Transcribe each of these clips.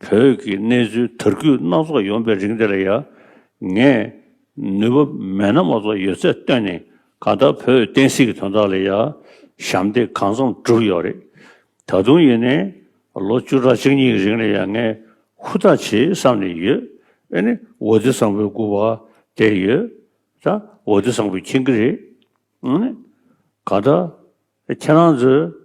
བོད་ཀྱི་གནས་ཚུལ་དར་རྒུད་སྣ་ཚོགས་ཡོང་པའི་རིང་འདི་ལ་ཡང་ངས་ནུས་པ་མེད་ན་མ་གཏོགས་ཡོད་ཚད་བཏོན་ནས་ག་ལྟར་བོད་བསྟན་སྲིད་ཀྱི་དོན་དག་ལ་ཡང་ཞབས་འདེགས་གང་འཚམ་བསྒྲུབས་ཡོད་རེད། ད་དུང་ཡིན་ནའི་ལོ་བཅུ་ཕྲག་གཅིག་གཉིས་ཀྱི་རིང་ལ་ཡང་ངས་ཧུར་ཐག་བྱེད་བསམ་ནས་ཡོད། ཨེ་ནི་འོ་རྡི་བཟང་པོའི་སྐུ་བ་དེ་ཡོད་ད་འོ་རྡི་བཟང་པོའི་ཁྱིང་གི་རེད། ཨེ་ནི་ག་ལྟར་ཁྱེད་རང་ཚོས།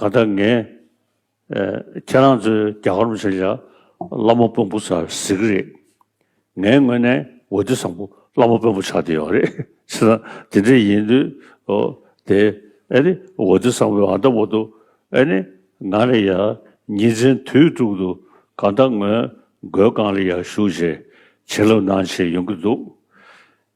ཀ་ད་ངས་ཁྱེད་རང་ཚོའི་རྒྱ་གར་མི་ཆོས་རྒྱ་བླ་མ་དཔོན་པོ་ཚར་ཟིག་གི་རེད། ངའི་ངོས་ནས་འོ་དེ་བཟང་པོ་བླ་མ་དཔོན་པོ་ཆགས་བསྡད་ཡོད་རེད། ཅི་ན་དེ་འདྲ་ཡིན་དུས་འོ་དེ་ཨེ་ནི་འོ་དེ་བཟང་པོའི་ཨ་མདའ་བོ་དུ་ཨེ་ནི་ང་ལ་ཡ་ཉིན་མཚན་དུས་དྲུག་དུ་ཀ་ད་ངོས་རྒོལ་ཁང་ལ་ཡ་བཞུགས་བྱེད་ལབ་གནང་བྱེད་ཡོང་གི་འདུག་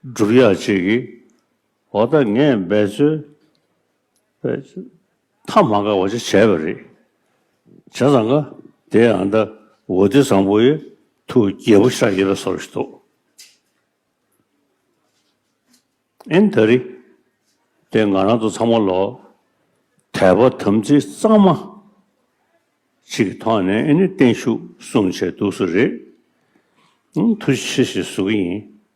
སྒྲུབ་ཡག་ཅིག་གི་འོག་ད་ངས་འབད་རྩོལ་མཐའ་མ་འགག་པ་ཅིག་བྱས་པ་རེད། བྱས་ཙང་ཀ་དེ་ཡང་ད་འོ་དེ་བཟང་པོ་ཡོད་ཐུགས་རྒྱལ་པོ་ཤག་ཡེ་ལ་སོར་ཞིག་འདུག་ཨིན་ད་རི་དེ་ང་རང་ཚོ་ཚང་མ་ལོ་དད་པ་དམ་ཚིག་གཙང་མ་ཅིག་གི་ཐོག་ནས་ཨིན་ནི་བརྟན་བཞུགས་གསུངས་བྱས་འདུག་སུ་རེད་ཐུགས་རྗེ་ཆེ་ཞེས་ཟུར་གྱི་ཡིན།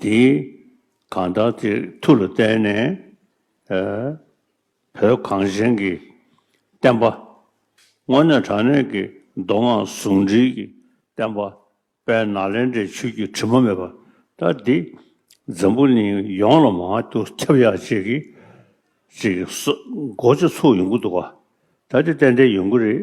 འདིས་གང་དག་དེ་མཐུ་ལ་བརྟེན་ནས་བོད་གངས་ཅན་གྱི་བསྟན་པ། དངོས་གནས་དྲང་གནས་ཀྱི་མདོ་སྔགས་ཟུང་འབྲེལ་གྱི་བསྟན་པ་དཔལ་ནཱ་ལེནྡྲའི་ཆོས་ཀྱི་དྲི་མ་མེད་པ་ལྟ་འདི་འཛམ་བུ་གླིང་ཡོངས་ལ་མང་དུ་ཁྱབ་ཡག་ཅིག་གི་ཅིག་གི་སོགས་མགོ་ཆུ་ཚུགས་ཡོང་གི་འདུག་ག་ད་འདི་ཏན་ཏན་ཡོང་གི་རེད།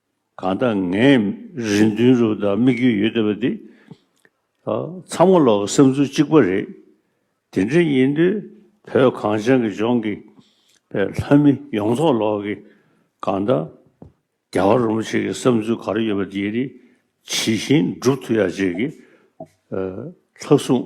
གང་ལྟར་ངས་རེ་འདུན་རུ་དང་དམིགས་ཡུལ་ཡོད་བསྡད་པ་འདི་ཚང་མ་ལོག་གི་བསམ་ཚུལ་གཅིག་པ་རེད། དེ་འདྲ་ཡིན་དུས་བོད་གངས་ཅན་གྱི་ལྗོངས་ཀྱི་ལྷ་མི་ཡོངས་རྫོགས་ལོག་གི་གང་ལྟར་རྒྱ་གར་རུ་མོ་ཆེ་གི་བསམ་ཚུལ་ག་རེ་ཡོད་པ་དེ་ཡི་རིགས་ཇི་བཞིན་སྒྲུབ་ཐུབ་ཡག་བྱེད་ཀྱི། ལྷག་བསུང།